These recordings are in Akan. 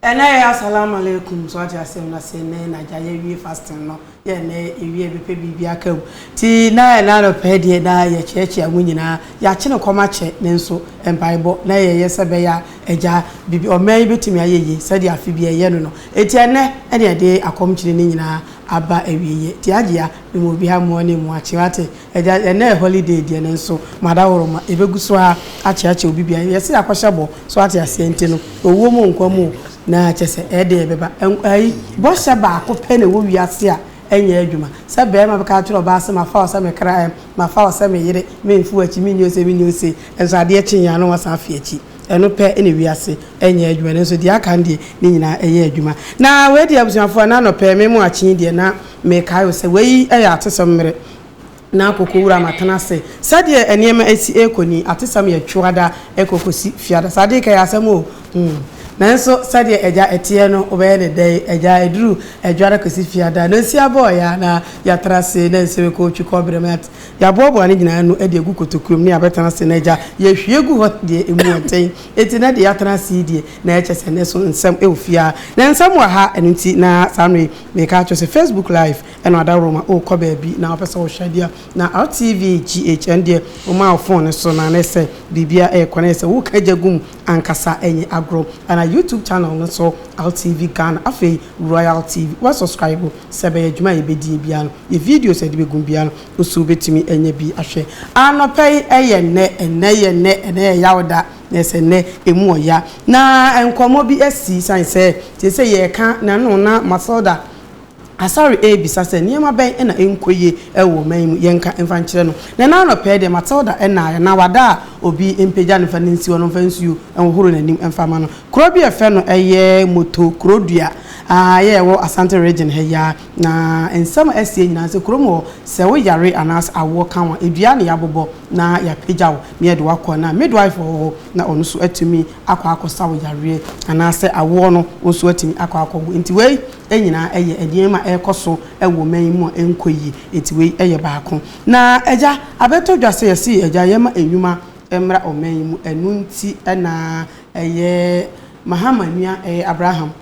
Ɛnɛ yɛ Asalam Alaikum so ate asɛm na se nnɛ na gya yɛ wie fasting no yɛ nnɛ yɛ wie me pɛ biribi aka mu nti na ɛnɛ anɔpa yi deɛ na yɛ kyea kyea mu nyinaa yɛ akye no kɔm akyɛ nanso mpaebɔ na yɛ yɛ sɛ bɛya agya biribi ɔman yi bɛtumi ayɛ yie sɛdeɛ afe bi yɛ yɛ no no nti ɛnɛ ɛne yɛde akɔm kyene no nyinaa aba awieɛ nti Hajia me ma obiara mmoa ne mmoa kye wate Agya, ɛnnɛ yɛ holiday deɛ nanso Madaworo-ma, yɛbɛgu so ara akyeakyea obi biara. Yɛse yɛakɔhyɛ bɔ, so ate aseɛ, nti no, owuo mu o, nkwa mu o, na kyerɛ sɛ, ɛyɛ dɛn yɛbɛba. Nkwa ayi, bɔhyɛ baako pɛ na ɛwɔ wiase a ɛnyɛ adwuma. Sɛ barima bɛka akyerɛ ɔbaa sɛ, mafa wo sɛ me kra ɛm, mafa wo sɛ me yere, meremfi w'akyi, menni ose, menni ose, nanso adeɛ kyeeɛ a na wasan afi akyi. Ɛno pɛ na wiase nyɛ adwuma, nanso deɛ aka no deɛ, ne nyinaa ɛyɛ adwuma. Na wei deɛ abusuafoɔ, ɛnnɛ anɔpa yi, me moakye yi deɛ, na mekae o sɛ, wei yɛ atesɛm mmere. na kokowura ma tena ase. Sɛdeɛ nneɛma asi rekɔ ni, atesɛm yɛ Twoada rekɔ kɔsi Fiada. Saa deeka yɛ asɛm o! Hmm. Nanso sɛdeɛ agya teɛ no, wobɛyɛ no dɛn? Agya, ɛduru Adwoada kɔsi Fiada, na nsi abɔɔ yɛn a na yɛatena ase, na nsi rekɔ otwi kɔbere ma yɛate. Yɛaboaboa ne nyinaa ano de agu kotokurom na yɛabɛtena ase, na agya, yɛahwie gu hɔ deɛ emu yɛ den. Enti na deɛ yɛatena ase yi deɛ, na ɛkyɛ sɛ na ɛso nsɛm wɔ fie ara. Na nsɛm wɔ ha, ɛno nti na saa mmerɛ yi mereka akyerɛ wo sɛ Facebook Live, Ɛna adaworoma o kɔ baabi na wopɛ sɛ wo hwɛ adeɛ a na rtv GH ɛn deɛ wo maa wo phone no so na ne sɛ biribiara ɛɛkɔ na yɛ sɛ wo ka gya gu mu ankasa ɛnyɛ agorɔ ɛna YouTube channel no so rtv Ghana afei Royal TV wa subscribe o sɛ ɛbɛyɛ adwuma a yɛbɛdie biara no yɛ videos a yɛde bɛgum biara no wo so wobɛtumi anya bi ahwɛ anɔpa yi ɛyɛ nnɛ ɛnnɛ yɛ nnɛ ɛnnɛ yɛ Yawda na yɛ sɛ nnɛ ɛmu wɔ ya na nkɔmmɔ bi asi sane sɛ seesei yɛreka na ɛno na Matilda Asare rebisa sɛ, Nneɛma bɛn na ɛnkɔ yie wɔ ɔman yi mu? Yɛnka mfa nkyerɛ no. Na ɛnnɛ anɔpa yi deɛ, Matilda nnaeɛ, na wada a obi mpagya no mfa no nsi hɔ no, mfa nsuo nhohoro n'anim mfa mma no. Kuro bi a yɛfrɛ no ɛyɛ Moto Kurodua a ɛyɛ ɛwɔ Asante Region ha yi ara. Na nsɛm a asie nyinaa sɛ kurom hɔ, sɛ woyare anaasɛ awoɔ ka wo a, dua na yɛabobɔ na yɛapagya wo na yɛde wo akɔ. Na midwife wɔ hɔ na ɔno nso atumi akɔ akɔsa wo yareɛ anaasɛ awoɔ no wo nso woatumi akɔ akɔwo. Nti wei nyinaa yɛ nneɛma a ɛrekɔ so wɔ ɔman yi mu a ɛnkɔ yie, nti wei yɛ baako. Na Agya, abɛtɔ dwa sɛ yɛse Agya yɛma nnwuma mmra ɔman yi mu, ɛno nti na ɛyɛ Mahama nua, ɛyɛ Abraham,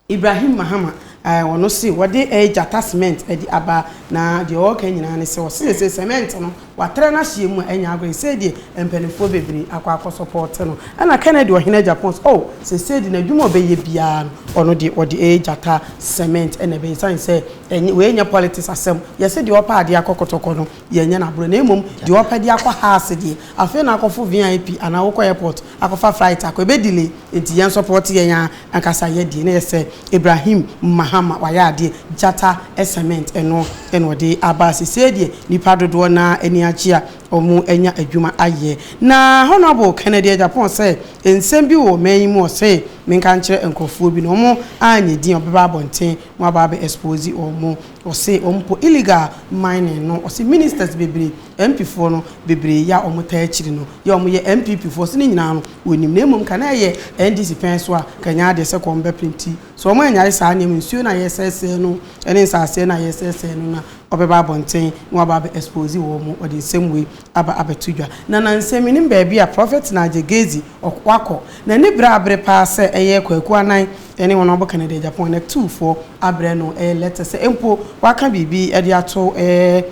Ibrahim Mahama, ɔno se wɔde gyata cement de aba, na deɛ ɔreka nyinaa ne sɛ ɔse sɛ cement no Watra n'ahyeɛ mu a ɛnyɛ agorɔ yi sɛdeɛ mpaninfoɔ bebree akɔ akɔ sɔpɔɔte no ɛna Kennedy ɔhene agya pɔn sɛ oh sesei de n'adwuma a ɔbɛyɛ biara no ɔno deɛ ɔde ɛyɛ gyata cement ɛna ɛbɛyɛ ɛsiane sɛ ɛnyɛ wei nyɛ politics asɛm yɛse deɛ ɔpɛ adeɛ akɔ kɔtɔkɔ no yɛnyɛ no aborɔ na mmom deɛ ɔpɛ de akɔ house deɛ afei na akɔfo vip anaa wokɔ airport akɔfa flight akɔ ɛbɛ delay nti yɛn support yɛn ankasa yɛ deɛ na yɛ sɛ Ibrahim Mahama wayɛ adeɛ gyata cement ɛno na ɔde aba sesei deɛ nipa dodoɔ no ara ani agye a ɔmo anya adwuma ayɛ na Honourable Kennedy Agyapong sɛ nsɛm bi wɔ ɔman yi mu ɔse menka nkyerɛ nkorɔfoɔ bi na ɔmo anyɛ din a ɔbɛba abɔnten na waba abɛ expose ɔmo ɔse ɔmo mpo illegal mining no ɔse ministers bebree MP foɔ no bebree yɛ a wɔn taa akyiri no yɛ a wɔn yɛ NPP foɔ so no nyinaa no wɔ nim na mmom ka na ɛyɛ NDC pɛn so a ka ɛnyɛ adeɛ sɛ kɔ wɔn bɛ printi so wɔn anyae saa nneɛma nsuo no a yɛ sɛɛsɛɛ no ɛne nsaaseɛ no a yɛ sɛɛsɛɛ no na wɔbɛ ba abɔnten na wɔaba abɛ expose wɔn wɔde nsɛm wei aba abɛ to dwa na na nsɛm me nim baabi a Prophet Nigel Gezi ɔkɔ wakɔ na ani bere abere paa sɛ ɛyɛ Kwaku Anan ɛne wɔn a wɔbɔ ka no de Japan na tu foɔ abrɛ no ɛyɛ letter sɛ mpo waka biribi ɛde ato ɛɛ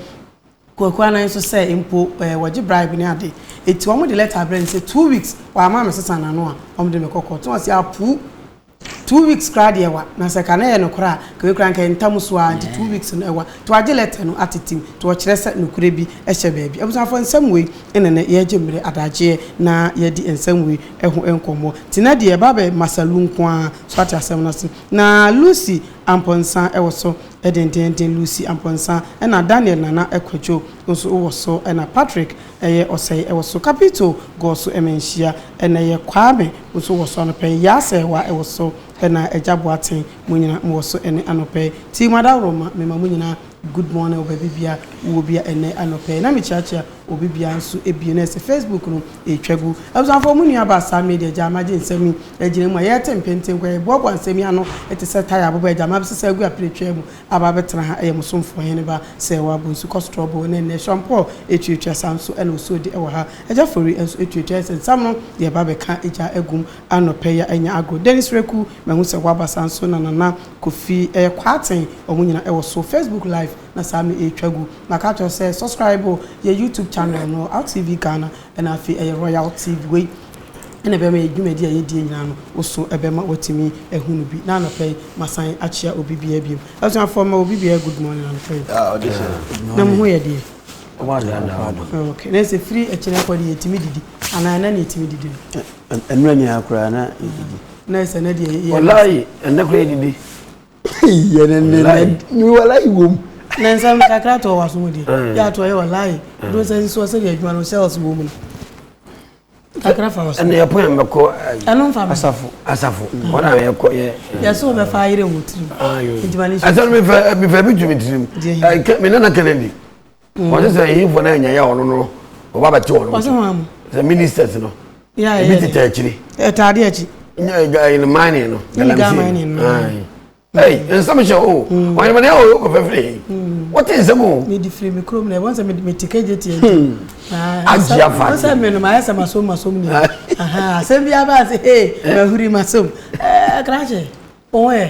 Kwaku anan nso sɛ mpo ɛɛ wɔgye bribe ne ade eti wɔn de letter brɛ no sɛ two weeks wamma me sesa n'ano a wɔn de me kɔ court na ɔse apuu two weeks koraa deɛ ɛwa na sɛ ka na ɛyɛ nokorɛ a ka wei koraa nka ɛyɛ ntam so aa nti two weeks no ɛwa nti wagye letter no atetem nti ɔkyerɛ sɛ nokorɛ bi hyɛ baabi abusuafoɔ nsɛm wei na nɛ yɛregye mmere adagyeɛ na yɛadi nsɛm wei ɛho nkɔmmɔ nti na deɛ ɛba bɛ masa lu nko aa so ate asɛm no ase na Lucy Amponsah ɛwɔ so Dendeenden Lucy Amponsah ɛna Daniel Nana Kwadwo nso wɔ so ɛna Patrick ɛyɛ Ɔsɛe wɔ so Capito gɔɔ so ɛma nhyia ɛna ɛyɛ Kwame nso wɔ so anɔpa yi Yaa Sɛɛwa ɛwɔ so ɛna Agya Boateng mo nyina mo wɔ so ɛnɛ anɔpa yi Team Adaworoma me ma mo nyina good morning wɔ baabi bia wo wɔ bia ɛnɛ anɔpa yi na me kyeakyea Obi bia nso ɛbie na ɛsɛ Facebook no ɛtwa gu. Abusuafoɔ mo nua baa saa media gyaa magye nsɛm yi agyina mu a yɛɛte mpenten nkɔ yɛ boaboa nsɛm yi ano te sɛ tire aboba agya mabɛsesa agu apire twaa mu aba abɛtena ha ɛyɛ mo somfoɔ hene ba sɛ wɔ abɔ nsu kɔ strɔboo ne nnɛ shampoo ɛtuatua saa nso na osuo de ɛwɔ ha agya fori nso ɛtuatua ɛyɛ sɛ nsam no yɛɛba abɛka agyaa agum anɔpɛ yi a anya agorɔ Dennis Reku mahu sɛ waba saa nso na Nana Kofi ɛyɛ Kwaaten wɔn nyina ɛwɔ so Facebook live na saa me ɛtwa gu na ka kyerɛ sɛ subscribe yɛ YouTube channel no ALTV Ghana ɛna afei ɛyɛ Royal TV wei ɛna ɛbɛma yɛ dwumadi a yɛdie nyinaa no wo so ɛbɛma watumi ɛhu no bi na anɔpɛ yi masan akyia obi biara biom abusuafoɔ ma obi biara good morning anɔpɛ yi na mo ho yɛ deɛ okay na ɛsɛ firi ɛkyerɛ kɔ deɛ yɛtumi didi anaa ɛna ne yɛtumi didi no ɛnura nyinaa koraa na yɛdidi na ɛsɛ na deɛ yɛ ɔlaa yi ɛnɛ koraa yɛdidi walayi wom na nsɛm no kakra to ɔwaso mu deɛ mm. yɛ ato ayɛ walayi do nsɛ nsoɔ sɛdeɛ adwuma no sɛls wɔ mu no kakra fa wɔsɛ ɛne ɛpo yɛ mɛkɔ ɛno mfa asafo asafo mm. wɔn a yɛkɔ yɛ yɛsɛ wɔbɛfa ayerɛ wɔ tirim nti ma ne nsuo ɛsɛ no mefɛ mefɛ bi tu me tirim me nana kennedy wɔn sɛ yiyifo no anya yɛ wɔn no wɔba bɛte wɔn mu sɛ ministers no ebi tete akyiri ɛtaade akyi ɛyɛ mining no galamsey no ɛyi nsɛm hyɛ o wɔn yɛn yɛ o kɔfɛfɛ yi wɔte nsɛm o. mi di firi mi kurom na ɛwɔ sɛ mi ti kegye tiɛ ti. agye afa ase ɔsɛ mi no ma ayɛ sɛ ma som ma som ni asɛm bi aba ase ee ma huri ma som ɛɛ krakye wɔn yɛ.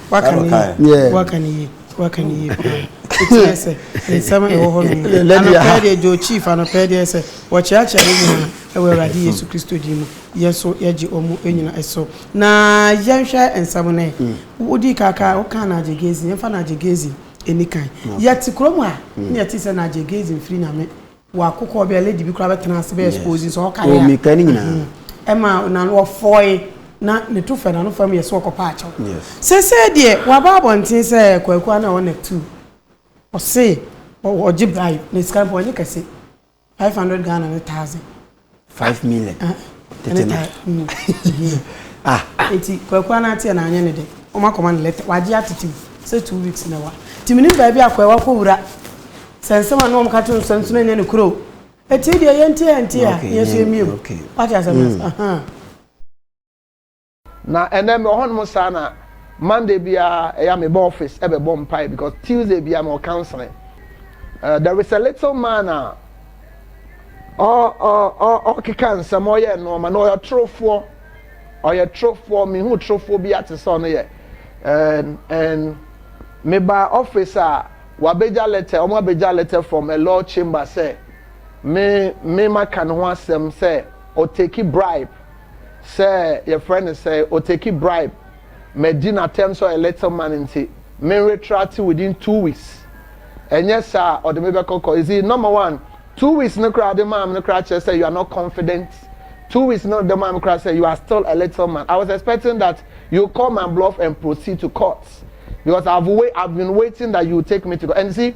waka ne yie waka ne yie waka ne yie paa ɛtiɛ sɛ nsɛm ɛwɔ hɔ nom anɔpɛɛ deɛ gye chief anɔpɛɛ deɛ sɛ wɔkyeakyea ne nyinaa ɛwɔ awurade hmm. yesu kristo din mu yɛn so yɛgye ɔmo nyina ɛso na yɛnhwɛ nsɛm no ɛ hmm. wodi kaka woka na agye gezi yɛmfa na agye gezi ɛni kan yɛte kurom a hmm. ne yɛte sɛ na agye gezi mfiri nyame Wakokɔ bia lady bi kura bɛtena ase bɛ expose sɛ ɔka yɛ a. Omi ka ne nyinaa. Ɛma na wɔfɔe na ne to fɛ na no fam yɛ sɛ ɔkɔpa akyɛw. Yes. Sese deɛ waba abɔnten sɛ kwaku ana ɔna tu. Ɔse ɔgye bribe na sika no pɔ ɔnye kɛse. 500 Ghana ne thousand. five million ah, tete no mm. ah eti kwaku ana ate na anya ne de wɔn akɔma ne lɛtɛ wagye atete sɛ two weeks na wa ti mini baabi akɔ ɛwa kɔ wura sɛ nsɛm a na wɔn ka to nsɛm nso na nya ne kuro eti deɛ yɛn ti yɛn ti a yɛn so yɛn mie mu wate asɛm na ahan. Na ɛnɛ mewɔ hɔnom saa na Monday biara ɛyɛ a meba office ɛbɛbɔ mpae because Tuesday biara mewɔ counseling. Uh, there is a little man a ɔkeka nsɛm ɔyɛ nnoɔma na ɔyɛ torofoɔ ɔyɛ torofoɔ mehu torofoɔ bi ate sɛ ɔno yɛ and and meba office a wabɛgya letter ɔmo abɛgya letter from a law chamber sɛ me me maka ne ho asɛm sɛ ɔteki bribe sɛ yɛfrɛ no sɛɛ, oteki bribe, madi no atɛm sɛ ɔyɛ little man nti meretrate within two weeks, ɛnyɛ saa a ɔde me bɛkɔ kɔ, you see, number one, two weeks no koraa ɔde maa me no koraa kyerɛ sɛ you are not confident, two weeks no ɔde maa me koraa sɛ you are still a little man, I was expecting that you call my bluff and proceed to court because I've, wait, I've been waiting that you take me to court, and you see,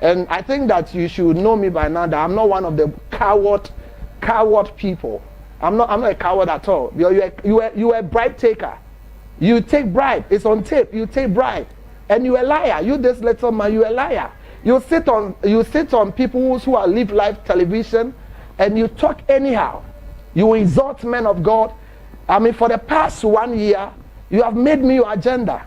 and I think that you should know me by now that I'm not one of the coward coward people I'm not I'm not a coward at all you're, you're, you're, you're a bribe taker you take bribe it's on tape you take bribe and you're a liar you this little man you're a liar you sit on you sit on people who are live live television and you talk anyhow you insult men of God I mean for the past one year you have made me your agenda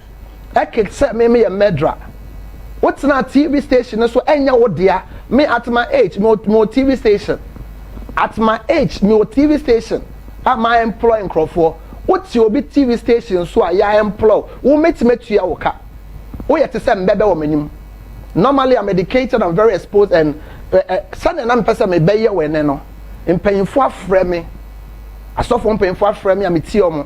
Ɛked sɛ me meyɛ mɛdra. Wo tenaa TV station no so ɛnyɛ wo dea. Me at my age me me wɔ TV station. At my age me wɔ TV station a ma employ nkorɔfoɔ. Wo te obi TV station so a ya employ wo mɛtumi atua wo ka. Wo yɛ te sɛ mbɛbɛ wɔ m'anim. Normally I'm educated I'm very exposed and eh eh sɛdeɛ na mepɛ sɛ me bɛyɛ wo ɛnɛ no mpanyinfoɔ afrɛ me asɔfoɔ mpanyinfoɔ afrɛ me a me tie wɔn.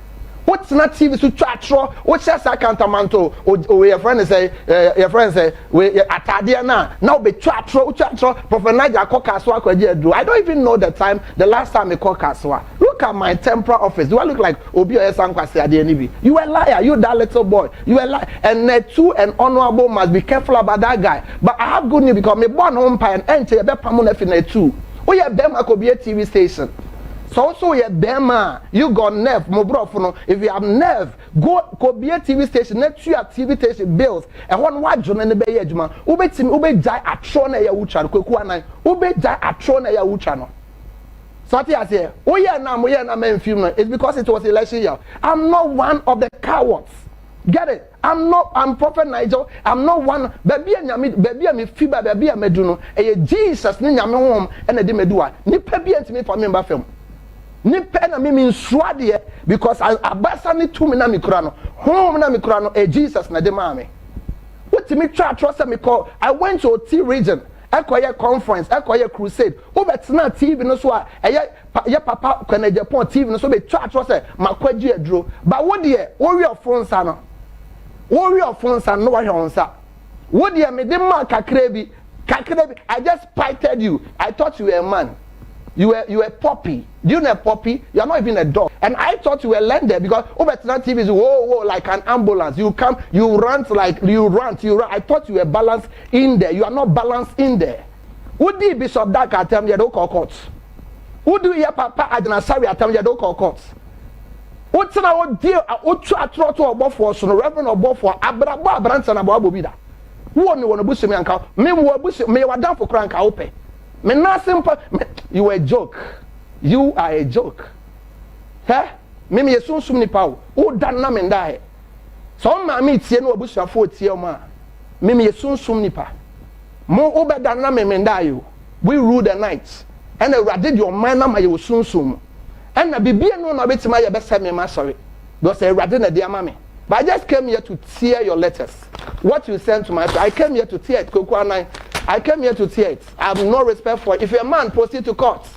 wotena tv so twa atorɔ wohyɛ saa kantamanto owe yɛfrɛ no sɛ yɛfrɛ no sɛ we ataadeɛ no a na wobɛtwa atorɔ wotwa atorɔ prɔfɛ nigel akɔ kasoa akɔ agye aduro i don't even know the time the last time mekɔ kasoa look at my temporal office do i look like obi ɔyɛ saa nkwase adeɛ no bi you a liar you that little boy you a liar and uh, two and honourable must be careful about that guy but i have good news because me bɔ no mpa and ɛnkyɛ yɛbɛpamo no afi na two woyɛ bɛrima kɔbie tv station Sɛ wo so yɛ bɛrima a, you got nerve, mo borɔfo no, if you have nerve, go kɔbie TV station na tua TV station bills, ɛhɔ no w'adwene no bɛyɛ adwuma, wobɛtumi, wobɛgyae atorɔ no a ɛyɛ a wotwa no, Kwaku Anan, wobɛgyae atorɔ no a ɛyɛ a wotwa no. So ate aseɛ, woyɛ no a moyɛ no a mamfim no, it's because it was election year. I'm not one of the cowards. Get it? I'm not I'm prophet Nigel I'm not one baabi a nyame baabi a me fi ba baabi a madu no ɛyɛ Jesus ne nyame honhom ɛna de madu a nipa bi ntumi fa me mba fam nipa na me mensuro adeɛ because abasa ne tumi na mekura no honhom na mekura no ɛyɛ Jesus na de maa me wotumi twa atorɔ sɛ mekɔ I went to Oti region ɛkɔyɛ conference ɛkɔyɛ crusade wobɛtena TV no so a ɛyɛ pa yɛ papa Kwena Agyapong TV no so bɛtwa atorɔ sɛ makwagye aduro ba wo deɛ wowe ɔfo nsa no wowe ɔfo nsa no wahwɛ wo nsa wo deɛ mede maa kakra bi kakra bi I just spited you I thought you were a man you were you were a puppy do you know a puppy you are not even a dog and I thought you were lender because wobɛtena TV so whoa whoa like an ambulance you come you rant like you rant you rant I thought you were balanced in there you are not balanced in there Wodii Bishop Dak atam, yɛde wo kɔɔ court. Wodii yɛ papa Agyena Sawi atam, yɛde wo kɔɔ court. Wotena hɔ die a wotwa atorɔ to ɔbɔfoɔ so no, Reverend ɔbɔfoɔ, abrabɔ a aberanteɛ no abɔ abɔ bi da. Wo a me wɔ no abusua mu a nka me wɔ abusua, meyɛ w'adamfo koraa nka wo pɛ. Me nan ase mpa, me, you are a joke. You are a joke. Hɛ, me meyɛ sunsum nipa o, woda no na me nda hɛ. Sɛ wo maame tie na w'abusuafoɔ tie wɔn a, me meyɛ sunsum nipa. Mo wo bɛda no na me mendae o We rule the night Ɛna awurade de ɔman no ama yɛ wɔ sunsum mu Ɛna biribi nni hɔ na ɔbɛtumi ayɛ bɛsɛe me ma sɔre Because ɛyɛ awurade na ɛde ama me But I just came here to tear your letters What you sent to my friend I came here to tear it Kweku Anan I came here to tear it I have no respect for it If you're a man proceed to court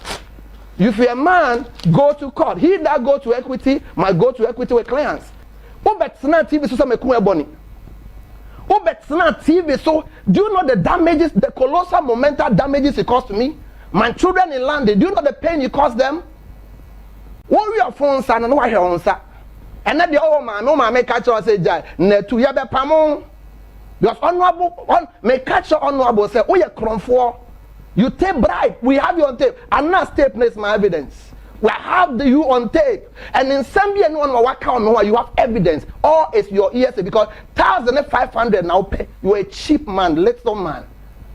If you're a man go to court He that go to equity must go to equity with clients wobɛtenaa tv so sɛ mako ɛbɔne wobɛtenaa tv so do you know the damages the colossal monumental damages it cost me my children in london do you know the pain it cost them wowie ɔfo nsa no na wahwɛ wo nsa ɛnɛ deɛ ɔwɔ maame wo maame ka kyerɛ sɛ gyae natu yɛbɛpamo because honorable on me catch your honorable say oh yeah kromfoɔ you take bribe we have you on tape and now tape is my evidence we have the you on tape And nsɛm bi a ɛne wɔn ma waka wɔn ho a you have evidence or is your hearsay because thousand ne five hundred na wopɛ you are a cheap man little man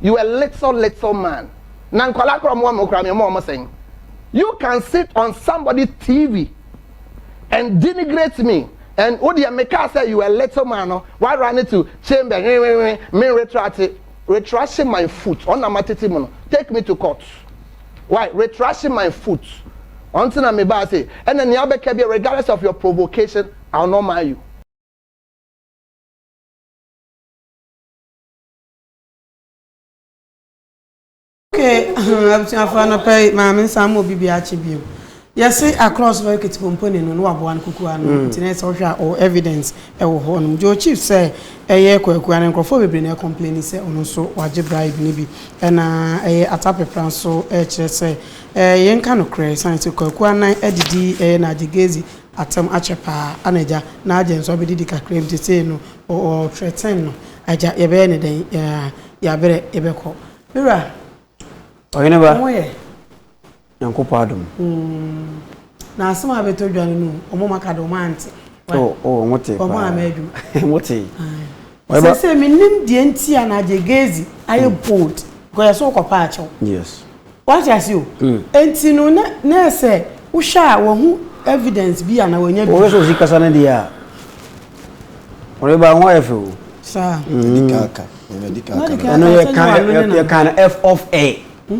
you are little little man na nkwadaa koraa wɔn wɔn koraa mi wɔn wɔn sɛn you can sit on somebody tv and denigrate me and wo deɛ meka sɛ you are a little man no wa run it to chamber nwenwenwen me retract retraction my foot ɔna ma tete mu no take me to court. Why retracing my foot ɔnti na mebaa se ɛna nea abɛka bia regardless of your provocation I will not marry you. Okay, abusuafo anɔpa yi maame nsa ama obi bi akye bio. Yɛse akorɔ ɔsoro ekiti pomponi no na waboa no kukuwa no nti na sɛ wohwɛ a ɔwɔ evidence ɛwɔ hɔ nom. Joe Chief sɛ ɛyɛ Kwakuaa no nkorɔfoɔ bebree na ɛcomplaini sɛ ɔno nso wagye bribe no bi ɛna ɛyɛ Atapepra nso ɛkyerɛ sɛ ɛɛ yɛnka nokorɛ ɛsiane sɛ Kwakuaa nan adidi ɛyɛ Naagye Gezi atɛm akyɛ paa ana agya Naagye nso abɛdidi kakra mu sesei no ɔɔ threaten no agya yɛbɛyɛ no dɛn ɛɛ yabrɛ yɛbɛkɔ Me wura Ɔheneba. Ɔmo yɛ. Nyankopɔn adom. Mm. Na asem a beto dwa no no, omo maka de omo ante. Oh, oh, omo te pa. Omo ama adwuma. Omo te. Sɛ sɛ menim deɛ nti a na agye gezi ayɛ mm. bold because yɛsɛ wokɔpa akyɛw yes wate ase o mm. nti no na na ɛsɛ wohwɛ a wahu evidence bi a na wanya bi wɔsɛ osi kasa no deɛ a ɔde ba ho ayɛ fɛ o saa ɛdi kaaka ɛdi kaaka ɛno yɛ kan yɛ kan f off air hmm?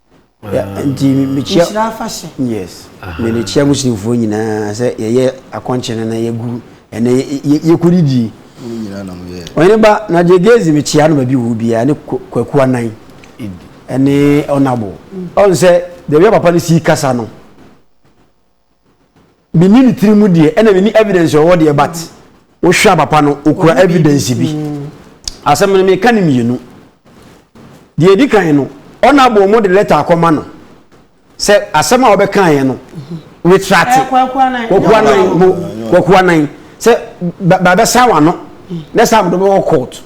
nti mekyia nhyira afahyɛ yes me ne kyia muslimfoɔ nyinaa sɛ yɛyɛ akɔnkye no na yɛgu ɛnɛ yɛkɔdidi ɔyene ba na deɛ gezi mekyia no baabi wɔ biara ne kwakuwa nan ɛne ɔnabo ɔn sɛ deɛ bia papa no sii kasa no mini ne tiri mu deɛ ɛna mini evidence ɔwɔ deɛ but wohwɛ a papa no okura evidence bi asɛm no meka ne mmienu deɛ edi kan no ɔna abɔ ɔmo de lɛta akɔma no sɛ asɛm a ɔbɛka yɛ no retrate kwakuanan mo kwakuanan sɛ bɛbɛsan wano na sɛ amodo bɛwɔ court.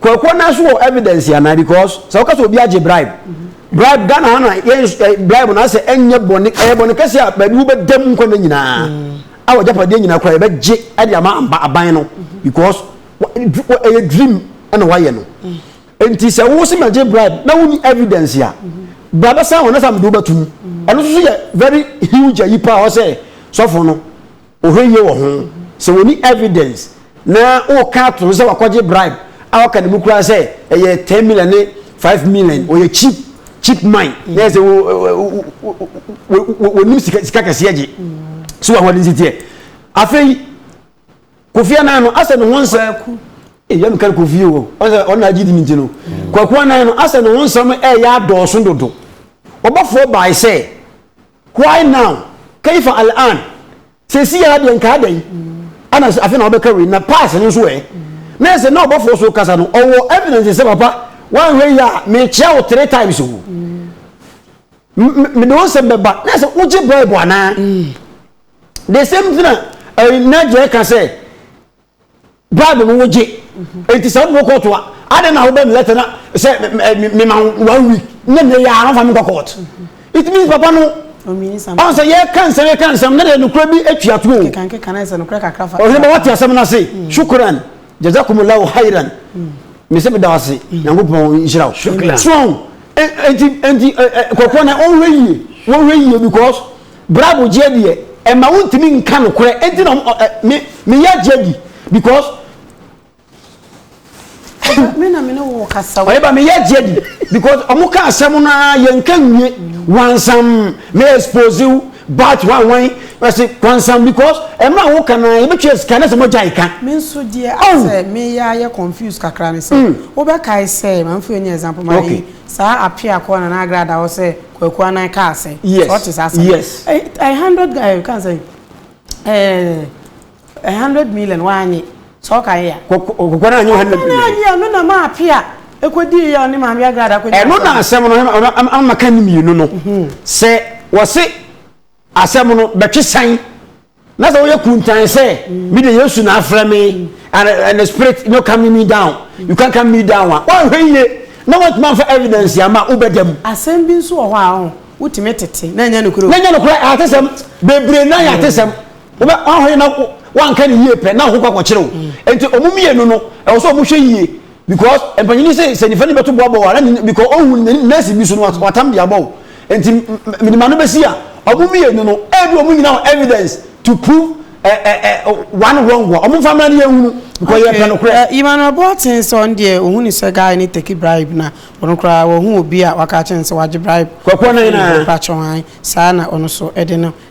Kwakuo no nso wɔ evidence anaa because sɛ woka sɛ obi agye bribe bribe Ghana ha no a yɛn nso eh, bribe no asɛ ɛnyɛ bɔne ɛyɛ bɔne kɛseɛ a baabi wobɛda mu nkwa no nyinaa a wagyapadeɛ nyinaa koraa yɛbɛgye ɛde ama amba aban no because wa- dr- wa- ɛyɛ dream ɛna wayɛ no nti sɛ wo sɛ magye bribe na wonni evidence a bra bɛsan wɔ na sɛ mede wobɛtom ɛno nso so yɛ very huge ayi paa hɔ sɛ sɔfo no Ɔhwɛ yie wɔ ho. Sɛ wɔnni evidence na woka ato so sɛ wakɔgye bribe a waka ne mu koraa sɛ ɛyɛ ten million ne five million, wɔyɛ cheap cheap man na yɛ sɛ wɔnim sika sika kɛseɛ gye. So wɔn adi teɛ. Afei Kofi Annan no asɛ ne ho nsɛm. Kwaku. Ee yɛn kan Kofi o, ɔsɛ ɔna agye di ne nti no. Kwaku Annan no asɛ ne ho nsɛm ɛyɛ adɔɔso dodo. Ɔbɔfoɔ bae sɛ Why now? Kaifa al-an? Seesei ara deɛ nka adɛn? Ana sɛ afei na wobɛka wei? Na past no nso ɛ? Na ɛsɛ na ɔbɔfoɔ so kasa no ɔwɔ evidence sɛ papa woanhwɛ yie a mekyea wo three times o. Mede wo nsɛm bɛba. Na ɛsɛ wogye bribe anaa? The same thing a Nadia ka sɛ Bible no wogye. Enti sɛ wode wo court a, adɛn na wobɛ me letter na sɛ mema one week na nnɛ yɛ a wɔmfa me nkɔ court. It means papa no ɔn sɛ yɛka nsɛm yɛka nsɛm na deɛ nokorɛ bi atwa to o. Ɔhene bɛ wate asɛm no ase. Shukran. Jazakumullahu khairan. Me sɛ meda wo ase. Nyankopɔn nhyira wo. Shukran. So enti enti kɔkɔɔ na ɔnhwɛ yie. Wɔnhwɛ yie because Bravo gyeɛ deɛ ɛma wo ntumi nka nokorɛ ɛnti na ɔmo ɛ me me ya gyeɛ di because. Ɔba me na me ne wo kasa o. Ɔyɛba me ya gyeɛ di because ɔmo ka asɛm no aa yɛn ka nwie wansam me expose wo but hwan hwan ɛse wansam because ɛmere a wo ka no aa yɛbɛ tua sika na sɛ mo gyae ka. Me nso deɛ asɛ me ya yɛ confuse kakra ne sɛ wo bɛ kae sɛ ma me fa ɛni example ma yi saa apeakɔ nana agrada hɔ sɛ Kwaku Anan kaa sɛ. Yes. Sɛ ɔte saa asɛm. Yes. Ɛyɛ hundred guy eh, kan sɛ ɛɛ eh, hundred million wanye. Sɛ ɔka yɛ ya. Kwaku Anan nye hundred million. Kwaku Anan yɛ na maa ape a ekodi yɛ ɔne maame agrada kodi. Ɛno na asɛm no ama ka ne mmienu no. Mhm. Sɛ wɔse Asɛm no bɛtwe sɛn? Na sɛ woyɛ kuntan sɛ me de Yesu na afrɛ me and, and the spirit no calming me down, you can calm me down a, woanhwɛ yie na woantumi amfa evidence ama wobɛda mu. Asɛm bi nso wɔ hɔ a ɔho, wotumi tete na ɛnyɛ nokorɛ o. Na ɛnyɛ nokorɛ, atesɛm, bebree na yɛ atesɛm. Wobɛ, woanhwɛ yie na wanka ne yie pɛ na wo ho kɔ akɔkyere wo. Nti wɔn mmienu no, ɛwɔ sɛ wɔhwɛ yie. because mpanyini sɛ sɛ nifa ni bɛto bɔ abɔ wa na ni because ohun oh, ni nurse bi so no watam de abɔ nti minima no bɛsi a ɔmo mmienu no ɛbi ɔmo nyina wɔ evidence to prove ɛ ɛ ɛ one wrong wɔ ɔmo nfa mmerɛ ni yɛn hunu because yɛ pɛ no korɛ. emmanuel boaten sɛ ɔn deɛ ohun ni sɛ guy ni take bribe na ɔno koraa wɔhu obi a waka akyɛn sɛ wagye bribe. kɔkɔ ne nyinaa. mpakyɛw han saa na ɔno so ɛde no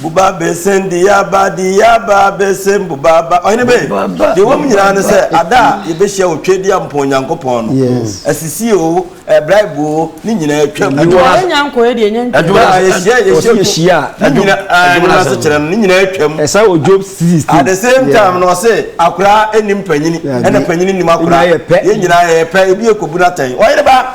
Boba besen de yaba de yaba besen boba ba ɔhene be deɛ wɔm nyinaa ne sɛ ada a yɛbɛhyia wɔ twɛdi a mpɔn Nyankopɔn no asisi o ɛbraibu o ne nyinaa atwam yɛnya nkɔ yɛ deɛ ɛnya ntua yɛhyia yɛhyia ne nyinaa ne nyinaa se kyerɛ no ne nyinaa atwam ɛsa wɔ Job 16 at the same time na ɔse akoraa ɛnim panyini ɛna panyini nim akoraa yɛ nyinaa yɛ pɛ ebi yɛ kɔbu no atɛn ɔhene ba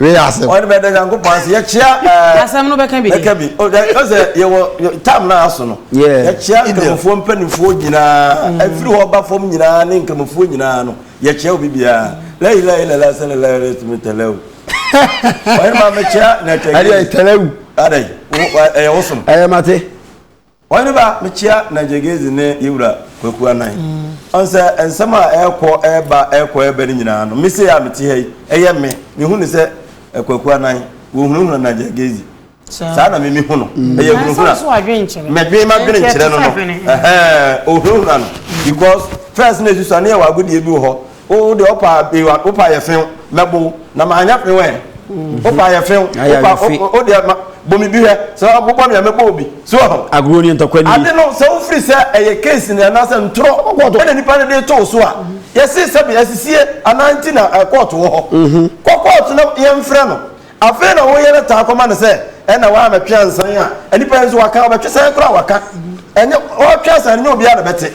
wei asɛm ɔne bɛda nyankopɔn ase yɛkyea eh, asɛm no bɛka bi bɛka bi ɔsɛ yɛwɔ tam no aso no yɛkyea nkramofoɔ mpanimfoɔ nyinaa mm. ɛfiri hɔ ba fam nyinaa ne nkramofoɔ nyinaa no yɛkyea obi biara lailailala sɛ lalaretumi tɛlɛw ɔne ma mekyea na tɛlɛw ɛyɛ wosom ɛyɛ mate Ɔhene ba, mekyea Nagegezi ne yɛn wura Kwaku Anan. Ɔn sɛ nsɛm a ɛɛkɔ ɛɛba, ɛɛkɔ ɛɛba no nyinaa no, me sei a mete ha yi, ɛyɛ me. Mehu no sɛ Kwaku Anan, wɔhunahuna Nagegezi. Saa na me mehu no. Ɛyɛ hunahuna. Mɛdwen m'adwene nkyerɛ no no. Ɛhɛɛ, ɔhunahuna no because first no ɛsusuane yɛ wɔ agodeɛ bi wɔ hɔ Wo de wo pa ewa wo pa yɛ few mɛbo na ma anya few ɛ. Mhm. Wo pa yɛ few wo pa wo de ma bomi bi hwɛ sɛ wo bɔ mi a mɛbɔ obi. So ho. Agro ni ntɔkwa ni. Ade no sɛ wo firi sɛ ɛyɛ case ni ana sɛ ntoro ɛna nipa no de to so a. Mhm. Yɛsi sɛ bi asisie ana nti na eh, court wɔ hɔ. Mhm. Kɔ court na yɛmfrɛ no. Afei na wɔyɛ no taa kɔma no sɛ ɛna wɔn a mɛtwe ansan a nipa nso waka ɔbɛtwe sɛn koraa waka. Ɛnyɛ ɔtwe ansan nyɛ obiara na bɛte.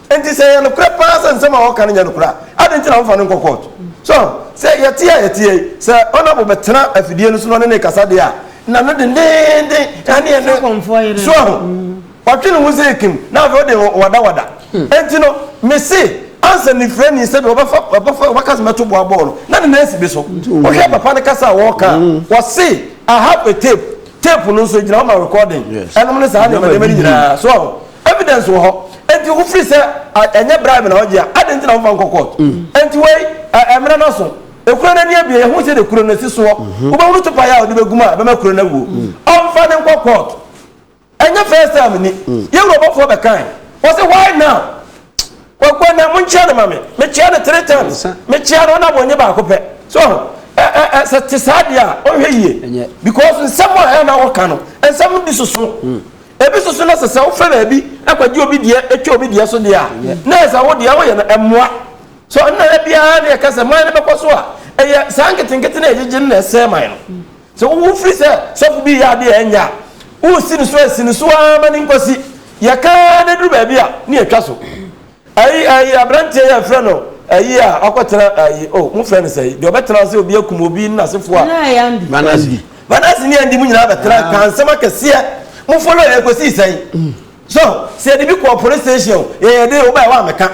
Enti sɛ ɛyɛ nokorɛ pa ara sɛ nsɛm a wɔka no nyɛ nokorɛ a, adɛn nti na wɔmfa no nkɔ kɔɔto? So sɛ yɛte a yɛteɛ yi, sɛ Honourable bɛtena afidie no so na ɔne no rekasa deɛ a, na no dendeenden ɛne ɛne so ahu. Watwe ne ho sɛ ekim na afei ɔde wadawada. Enti no, mese ansa nifirani sɛdeɛ ɔbɛfa ɔbɛfa ɔbɛka sɛ mɛto boa bɔɔl no, na ne nan si bi so. Wohwɛ papa no kasa a wɔreka a, wɔse I have a tape, tape no nso egyina hɔ ma recording. Ɛnom ne saa nneɛma nneɛma no nyinaa. So ahu? Evidence wɔ hɔ enti wo firi sɛ ɛnyɛ bribe na ɔgye a adi nti na wo nfa nkɔ court enti wei ɛmena no so ekuro no ani abie yɛhu sɛde kuro no si soɔ wo bɛ hunu tupa yɛ a ɔde bɛ gum a ɛbɛma kuro no awuo ɔnfa no nkɔ court ɛnyɛ first time ni yɛ wuro bɔfoɔ bɛ kan wɔsi why now wɔkɔ na mo nkyia no ma me me kyia no three times me kyia no ɔna wɔnye baako pɛ so ɛɛ sɛ te saa deɛ a ɔnhwɛ yie because nsɛm a ɛna wɔka no nsɛm di soso. Ebi nso so na sɛ sɛ wofɛ baabi kɔgye obi deɛ twa obi deɛ so deɛ a, na ɛyɛ sɛ wo deɛ woyɛ no ɛmmoa. So ɛno na da biara na yɛka sɛ man no bɛkɔ so a, ɛyɛ saa nketenkete no a yɛgyegye no na ɛsɛe man no. Sɛ wo wo firi sɛ sɔfo bi reyɛ adeɛ a ɛnyɛ a, woresi no so a, si no so ara ma no nkɔsi. Yɛka ara na ɛduru baabi a, na yɛatwa so. Ayi ayi abranteɛ yi a yɛfrɛ no ayi a ɔkɔtena ayi oh mo frɛ no sɛ yi deɛ ɔbɛtena ase obi akum obi ne n'asefoɔ a. Ɛna Andy. Andy. Manase ne Andy mo nyinaa bɛtena kaa nsɛm akɛseɛ mo follow yɛ kɔsii sɛn so sɛ yɛde bi kɔɔ police station o yɛyɛ den o wobaɛ woammɛka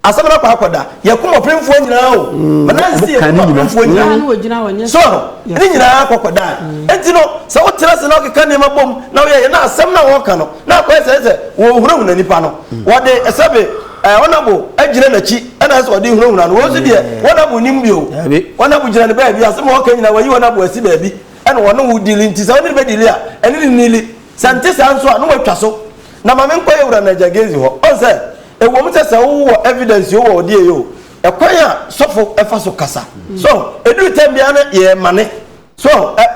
asɛm no akɔ akɔda yɛkum ɔpemfoɔ nyinaa o Manase yɛkum ɔpemfoɔ nyinaa so ne nyinaa akɔ akɔda enti no sɛ wotena ase na wokeka nneɛma bom na woyɛ yɛ na asɛm no a wɔka no na kɔyɛ sɛ sɛ wɔhunahuna nipa no wɔde sɛbe eh, ɔnabo agyina n'akyi ɛna sɛ ɔde hunahuna no wɔn nso deɛ ɔnabo nim bio ɔnabo gyina ne baabi asɛm a ɔka nyina wɔyi ɔnabo asi baabi ɛna wɔne wo dili nti sɛ ɔne ne bɛ dili a ɛne ne nili sɛ nte saa nso a na wɔatwa so na maame nkɔ yɛ wura nagya gezi hɔ ɔn sɛ ɛwɔm sɛ sɛ wowɔ evidence o wɔ ɔdeɛ yɛ o ɛkwan a sɔfo ɛfa so kasa so ɛduru tɛm biara no yɛ mane So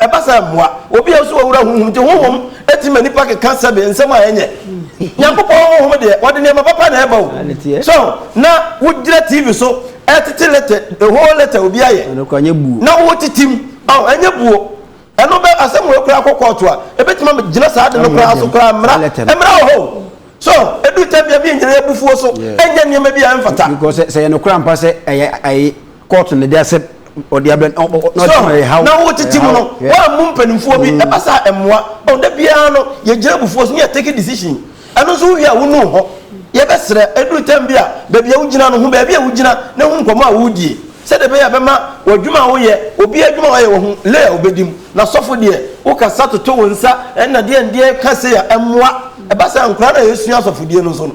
ɛba saa mmoa? Obi a nso ɔwura honhom nti honhom tumi ma nnipa keka sɛbe nsɛm a ɛnyɛ. Nyankopɔn honhom deɛ wɔde nneɛma papa na ɛba o. So na wogyina TV so ɛtete lɛtɛ the whole lɛtɛ obi ayɛ na wotetem ɔn ɛnyɛ buo. Ɛno bɛ asɛm wei koraa kɔ kɔɔto a ɛbɛtumi ama gyina saa ade no koraa so koraa mmara mmara wɔ hɔ o. So ɛduru tɛbea bi nyina yɛ bufuo so ɛnyɛ nneɛma bi a ɛmfata. Because sɛ yɛ nokora mpa sɛ ɛyɛ ɛyɛ kɔɔto na ɛde asɛm. ɔde abɛn ɔ ɔ na ɔde ma ɛhaw na wotete mu no wɔammu mpanimfoɔ bi ɛba saa ɛmmoa ɔ da biara no yɛgyina abufuo so ne yɛ take decision ɛno nso wowie a wonu hɔ yɛbɛsrɛ ɛduru tam bi a baabi a wogyina no ho baabi a wogyina na ho nkɔmmɔ a wodie sɛdeɛ ɛbɛyɛ a bɛma w'adwuma a woyɛ obi adwuma a ɔyɛ wɔ ho lay a wobɛdi mu na sɔfo deɛ wokasa toto wo nsa ɛna deɛ ndeɛ ka sei a ɛmmoa ɛba saa nkora no a yɛsua asɔfodie no nso no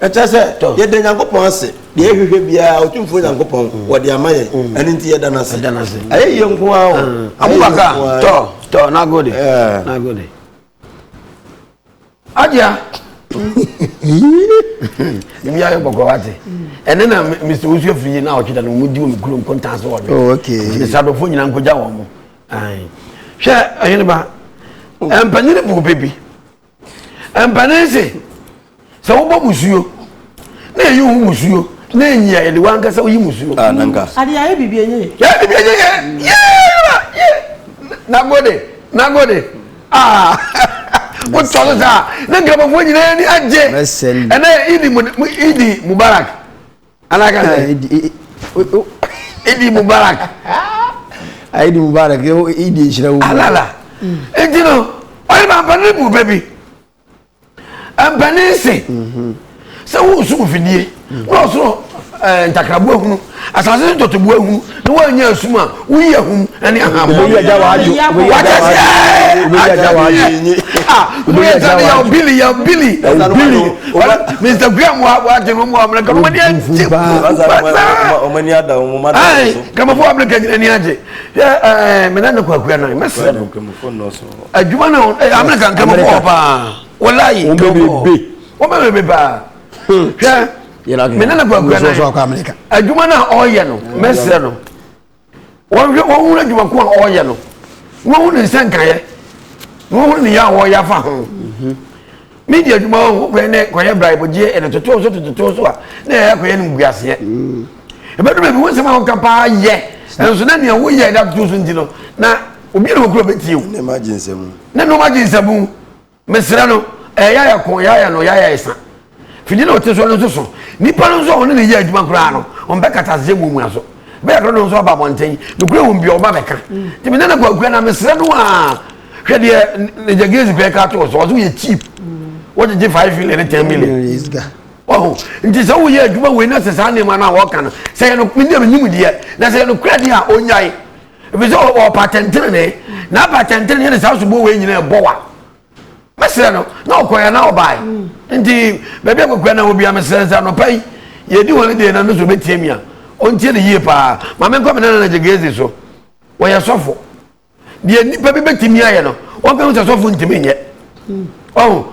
Ɛkyerɛ sɛ yɛda Nyankopɔn ase, deɛ yɛhwehwɛ biara Otumfoɔ Nyankopɔn wɔde ama yɛn, mm. ɛno nti yɛda no ase. Ɛyɛ yie nko ara o. Mm. Abubakar tɔ tɔ nagode eh. nagode. Adia. Ebi ayɛ bɔkɔ wa te. Ɛne na Mr. Osu efiri na ɔtwe da na wɔn di wɔn kuro nkontan so wɔn. Oh, Nti sadofo nyinaa nkogya wɔn mo. Hwɛ ɛyɛnba oh. mpanyinfo bɛ bi. Ɛmpene se sɛ wobɔ musuo na ɛyi wo musuo na ɛnyi a yɛde wankasa woyi musuo. Ah, nanka. Mm. Ade ayɛ biribi ɛnyɛ yɛ. Yɛ biribi ɛnyɛ yɛ. Mm. Yɛ nagode nagode ah wotɔ no saa na nkramofoɔ nyinaa ni agye ɛnɛ idi idi mubarak. ana ka sɛ idi mubarak idi mubarak idi nhyira wo alala nti no ɔyɛ ma mpanin bu bɛ bi mpanin se mhm. sɛ wosu mfidie na ɔsoro eh, ntakraboa hunu asase so tɔtɔboa hunu ne woanya asum a woyi ahum ne ahammɔ bili ya bili mr graham wagye no mu amena kama mani agye kamafo amena nyina ni agye mena ne kwakua no mɛsrɛ no adwuma no amena ka nkamafo hɔ paa wɔlayi wɔbɛbebe paa hwɛ mene ne kwakura nan adwuma no a ɔreyɛ no mɛsrɛ no wɔnhwɛ wɔhunu adwuma ko a ɔreyɛ no na wɔhunu ne nsa nkaeɛ na wɔhunu ne yɛ a wɔreyɛ afa ho mhm. ne di adwuma hɔ kɔyɛ ne kɔyɛ braibogyeɛ ɛne totoɔ so totoɔ so a na ɛyɛ kɔyɛ no nkuaseɛ mhm. ɛbɛdu baabi wo nsɛm a woka paa yɛ nanso na nea woyɛ da totoɔ so nti no na obi na wɔkura bɛtie o ne nnoɔma gye nsɛmu Mesrɛ no, ɛyɛ yaya ko, yaya no, yaya esa. Fidi na ɔte so no nso so. Nnipa no nso a wɔne no yɛ adwuma koraa no, wɔbɛkata ase sɛ muamua so. Bɛyɛ dodow no nso aba abɔnten. Nokorɛ wom bi a, wɔba bɛka. Nti me nana Kwaku Anah, mesrɛ no a, hwɛ deɛ Nagya Grace Kpɛɛ ka to wo so, ɔse woyɛ cheap. Wogyegye five million ne ten million. Wahu? Nti sɛ woyɛ adwuma wei na sɛ saa nneɛma no a wɔka no, sɛ ɛyɛ no, medeɛ menim deɛ, na sɛ ɛyɛ nokorɛ deɛ a, ɔnnyae. ebi sɛ ɔwɔ ɔpa tɛntɛn ne na apa tɛntɛn ne yɛ ne saa so bɔ wɔ nyina ɛbɔ wa mɛsrɛ no na ɔkɔ yɛ na ɔbaa yi nti baabi akɔkura na obi amesrɛ nsa nɔpa yi yɛdi wɔn deɛ na no so bɛtie mi a ɔntie ne yie paa maame nkɔ me nana na gyegezi so wɔyɛ sɔfo deɛ nipa bi bɛtumi ayɛ no wɔn fɛn sɛ sɔfo ntumi nyɛ ɔn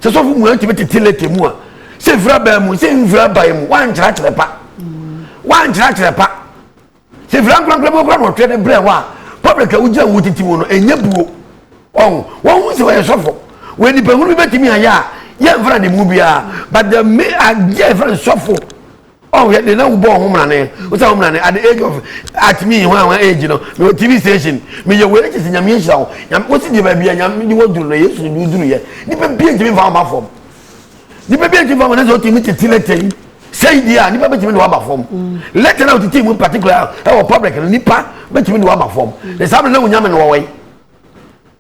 sɛ sɔfo mu ɛntumi tete lete mu a sɛ nfura bɛn mu sɛ nfura ban mu wɔn ankyerɛkyerɛ pa wɔn ankyerɛkyerɛ pa. Sɛ firi ankorankorɛ mu kora na ɔtwerɛ de brɛ wo a, public a wogyina wo titi mu no, ɛnyɛ buo. Ɔho, wɔhu sɛ ɔyɛ sɔfo. Wei nipa hunu bi bɛtumi ayɛ a, yɛ mfra ne mu biara. But the me adeɛ a yɛfrɛ no sɔfo, ɔho yɛ de na wobɔ ɔho mmrane. Wo sɛ ɔho mmrane, at the age of, at me, hwan hwan age no, me wɔ TV station, me yɛ wei, ɛkyɛ sɛ nyame nhyira wo. Nyame, wo si deɛ baabi a nyame de wɔduru no, Yesu de woduru yɛ. Nipa bi ntumi mfa wo mma fam. Nipa bi ntumi fam ɛnɛsɛ ɔtumi tete lɛtɛ yi sɛyi di a nipa bɛtumi de waba fam lɛtɛ na ɔtete mu particular ɛwɔ public no nipa bɛtumi de waba fam ne saa bɛn na onyame no wɔwɔ yi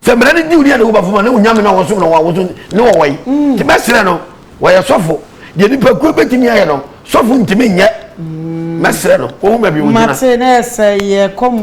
sɛ mmerɛ ne diw ni a ne woba fam a ne onyame no wɔsom no wɔn awoso ne wɔwɔ yi mm. te bɛsrɛ no wɔyɛ sɔfo deɛ nipa kuo bɛtumi ayɛ no sɔfo ntumi nyɛ mɛsrɛ no wɔn mu baabi wɔn gyina.